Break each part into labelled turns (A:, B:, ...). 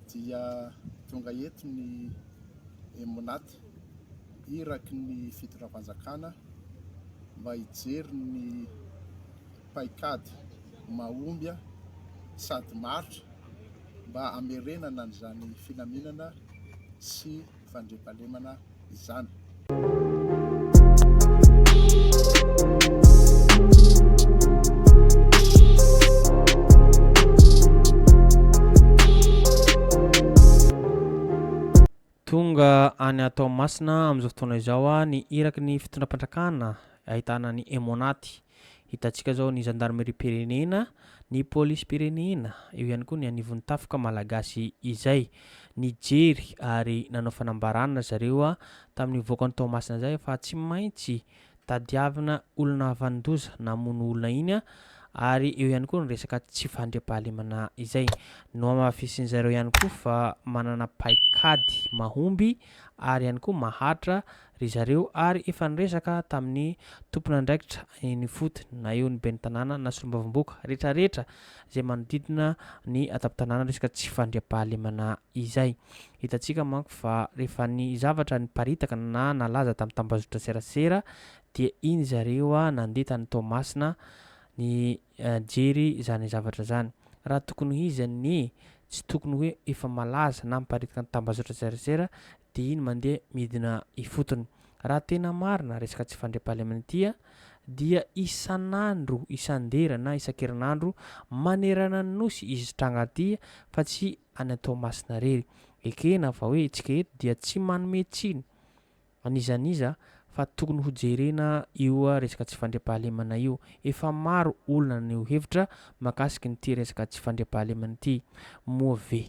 A: dia tonga eto ny Emnat, iraky ny fitondram-panjakana, mba hijery ny paikady mahomby sady maharitra mba hamerenana an'izany filaminana sy fandriampahalemana izany.
B: Tonga any Toamasina amin'izao fotoana izao ny iraky ny fitondram-pandrakana ahitana ny Emonaty, Hitantsika zao ny zandarimeriam-pirenena, ny polisim-pirenena, eo ihany koa ny anivon'ny tafika malagasy izay nijery ary nanao fanambarana zareo tamin'ny nivoaka ny Toamasina izay fa tsy maintsy tadiavina olona havanon-doza namono olona iny ary eo ihany koa ny resaka tsy fandriampahalemana izay. Nohamafisin'izareo ihany koa fa manana paikady mahomby ary ihany koa maharitra Ry zareo ary efa niresaka tamin'ny tompon'andraikitra eny ifotony na eo ny ben'ny tanàna na solombavamboka rehetra rehetra izay manodidina ny an-tampon-tanàna resaka tsy fandriampahalemana izay. Hitantsika manko fa rehefa ny zavatra niparitaka na nalaza tamin'ny tambazotra serasera dia iny zareo nandeha tany Toamasina nijery izany zavatra izany. Raha tokony ho izy anie tsy tokony hoe efa malaza na miparitika ny tambazotra serasera dia iny mandeha midina ifotony. Raha tena marina resaka tsy fandriampahalemana ity a, dia isan'andro, isan-dera na isan-kerinandro manerana ny Nosy izy tranga ity fa tsy any an-Toamasina irery. Ekena fa hoe isika eto dia tsy manome tsiny an'iza n'iza fa tokony ho jerena io resaka tsy fandriampahalemana io. Efa maro olona naneho hevitra mahakasikin'ity resaka tsy fandriampahalemana ity. Moa ve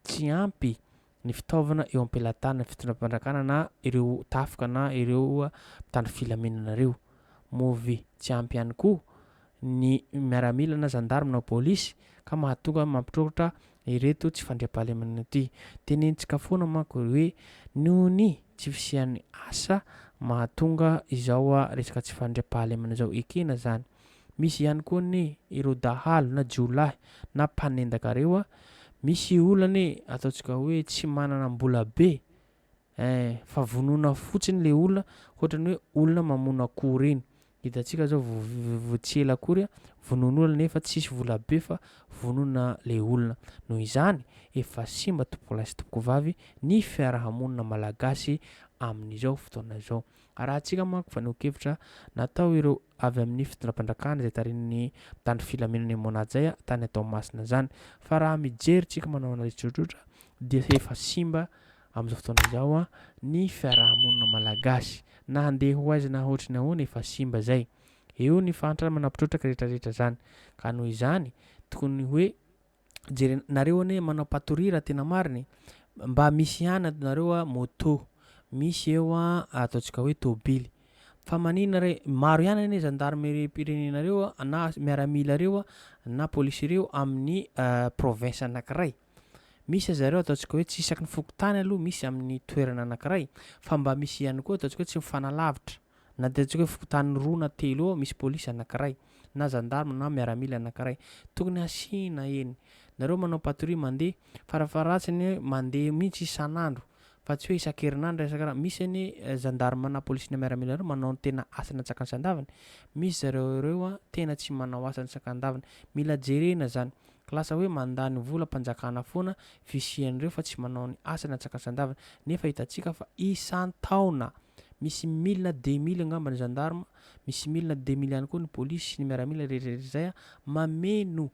B: tsy ampy ny fitaovana eo am-pelatanan'ny fitondram-panjakana na ireo tafika na ireo mpitandro filaminana ireo. Move tsy ampy ihany koa ny miaramila na zandary na polisy ka mahatonga mampitroatra ireto tsy fandriampahalemana ity. Tenentsika foana manko hoe noho ny tsy fisian'ny asa mahatonga izao resaka tsy fandriampahalemana izao ekena izany. Misy ihany koa anie ireo dahalo na jiolahy na mpanendaka ireo a! Misy olona anie ataontsika hoe tsy manana mbola be eh! Fa vonoina fotsiny ilay olona hoatran'ny hoe olona mamono akoho ireny. Hitantsika izao vao tsy ela akory a, vonoina olona nefa tsisy vola be fa vonoina ilay olona. Noho izany, efa simba tompokolahy sy tompokovavy ny fiarahamonina malagasy amin'izao fotoana izao. Arahantsika manko fanehoan-kevitra natao ireo avy amin'ny fitondram-pandrakana izay tarihin'ny mpitandro filaminana i Mona Jay tany an-Toamasina izany. Fa raha mijery tsika manao analyse tsotsotra dia efa simba amin'izao fotoana izao ny fiaraha-monina malagasy. Na handeha ho aiza na hoatry ny ahoana efa simba izay. Eo ny fahantrana manampitrotraka retraretra izany. Ka noho izany tokony hoe Jere- nareo anie manao patoria raha tena marina e! Mba misy ihany ato nareo a moto, misy eo a ataontsika hoe tôbily. Fa manina re, maro ihany anie zandarimeriam-pirenenareo a na miaramilareo a na polisereo amin'ny province anankiray. Misy aza ireo ataontsika hoe tsy isaky ny fokontany aloha, misy amin'ny toerana anankiray. Fa mba misy ihany koa ataontsika hoe tsy mifanalavitra. Na dia ataontsika hoe fokontany roa na telo eo misy polisy anankiray, na zandarma na miaramila anankiray, tokony asiana eny. Nareo manao patrouille mandeha, farafaharatsiny hoe mandeha mihitsy isan'andro, fa tsy hoe isan-kerinandro na isan-kerinandro. Misy anie zandarma na polisy na miaramila ireo manao ny tena asany antsakany sandaviny. Misy zareo ireo tena tsy manao asany sakandaviny. Mila jerena izany. Lasa hoe mandany volam-panjakana foana fisian'ireo fa tsy manao ny asany antsakany sandaviny. Nefa hitantsika fa isan-taona. Misy mille na deux mille angamba ny gendarme, misy mille na deux mille ihany koa ny polisy sy ny miaramila rehetra rehetra izay mameno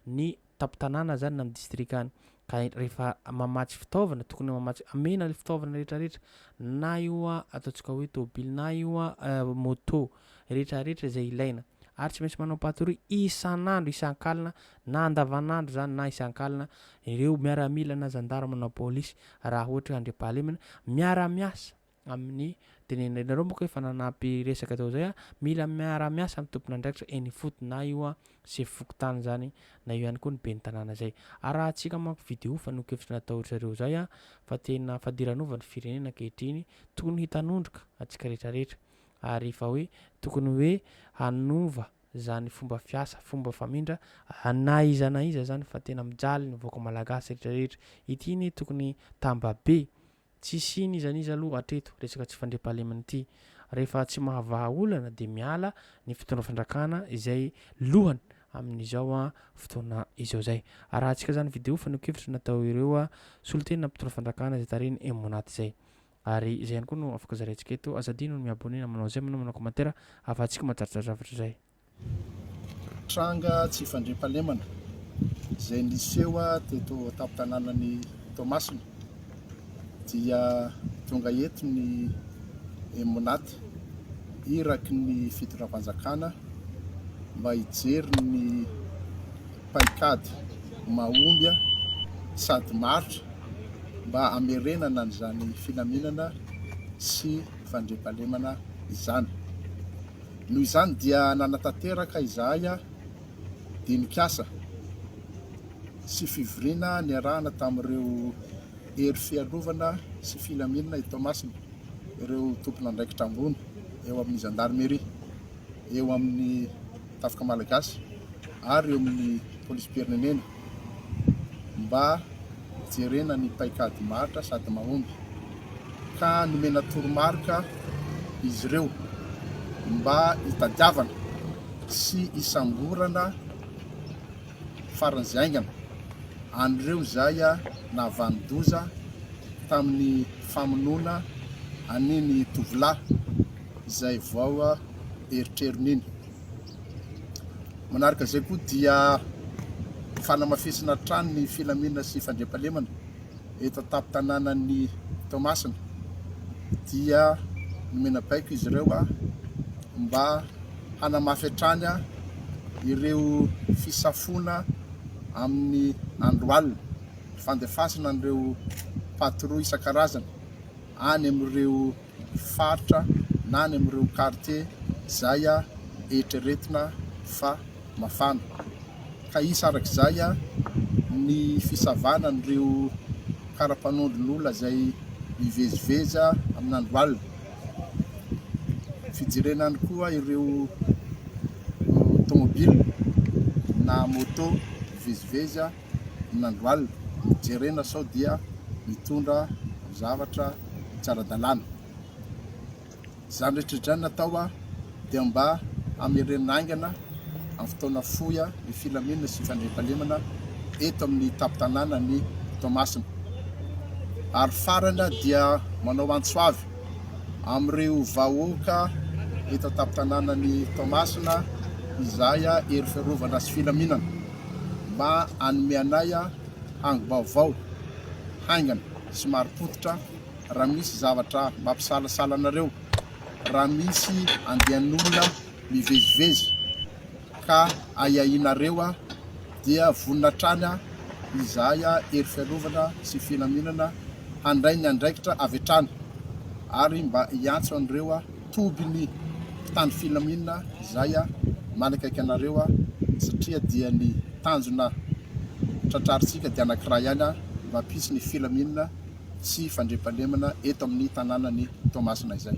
B: ny tampon-tanàna zany na ny distrika any. Ka rehefa mamatsy fitaovana, tokony mamatsy, amena ny fitaovana rehetra rehetra, na io ataontsika hoe tôbily, na io môtô rehetra rehetra izay ilaina. Ary tsy maintsy manao patrouille isan'andro, isan-kalina, na andavan'andro zany na isan-kalina, ireo miaramila na gendarme na polisy raha ohatra hoe andriampahalemana miara-miasa. amin'ny tenenireny. Nareo moa ka efa nanampy resaka tao zay a, mila miara-miasa ny tompon'andraikitra eny ifotony na io a sefo fokontany zany na io ihany koa ny ben'ny tanàna zay. Arahantsika manko video fanehoan-kevitra natao ry zareo zay a fa tena fadiranova ny firenena ankehitriny, tokony hitanondroka antsika retraretra ary efa hoe tokony hoe hanova zany fomba fiasa, fomba famindra na iza na iza zany fa tena mijaly ny vahoaka malagasy retraretra. Ity ne tokony tamba be Tsisy n'iza n'iza aloha hatreto resaka tsy fandriampahalemana ity. Rehefa tsy mahavaha olana dia miala ny fitondra fandrakana izay lohany amin'izao fotoana izao zay. Arahantsika zany video fanehoan-kevitra natao ireo solontena mpitondra fandrakana izay tarihin'i Emmonat zay. Ary zay ihany koa no afaka zaraintsika eto. Aza adino ny mi-abonner na manao j'aime na manao commentaire ahafahantsika mahatratra zavatra zay. Tranga
A: tsy fandriampahalemana izay niseho teto an-tampon-tanànan'i Toamasina dia tonga eto ny MONAT, iraky ny fitondram-panjakana mba hijery ny paikady mahomby sady maharitra mba hamerenana an'izany filaminana sy fandriampahalemana izany. Noho izany dia nanatanteraka izahay dinik'asa sy fivoriana niarahana tamin'ireo Hery Fiarovana sy Filaminana i Toamasina, ireo tompon'andraikitra ambony eo amin'ny Zandarmeria, eo amin'ny Tafika Malagasy ary eo amin'ny Polisim-pirenena. mba hijerena ny paikady maharitra sady mahomby ka nomena toromarika izy ireo mba hitadiavana sy hisamborana faran'izay haingana an'ireo izay nahavanon-doza tamin'ny famonoana an'iny tovolahy izay vao erotrerony iny. Manaraka izay koa dia fanamafisana hatrany ny filaminana sy fandriampahalemana eto an-tampon-tanànan'i Toamasina dia nomena baiko izy ireo mba hanamafy hatrany ireo fisafoana amin'ny andro alina, fandefasana an'ireo patrouille isan-karazany any amin'ireo faritra na any amin'ireo kartie izay eritreretina fa mafana. Ka hisy araka izay ny fisavana an'ireo kara-panondron'olona izay mivezivezy amin'andro alina. Fijerena ihany koa ireo tômôbila na môtô mivezivezy. in'andro alina, jerena sao dia mitondra zavatra tsy ara-dalàna. Izany rehetra izany natao dia mba hamerenana haingana amin'ny fotoana fohy ny filaminana sy fandriampahalemana eto amin'ny tampon-tanànan'i Toamasina. Ary farany dia manao antso avy amin'ireo vahoaka eto an-tampon-tanànan'i Toamasina izay hery fiarovana sy filaminana. mba hanome anay angom-baovao haingana sy marim-pototra raha misy zavatra mampisalasala anareo, raha misy andian'olona mivezivezy ka ahiahinareo dia vonona hatrany izahay Hery Fiarovana sy Filaminana handray ny andraikitra avy hatrany ary mba hiantso an'ireo toby ny mpitandro filaminana izay manakaiky anareo satria dia ny tanjona tratrarintsika dia anankiray ihany mba hampisy ny filaminana sy fandriampahalemana eto amin'ny tanànan'i Toamasina izay.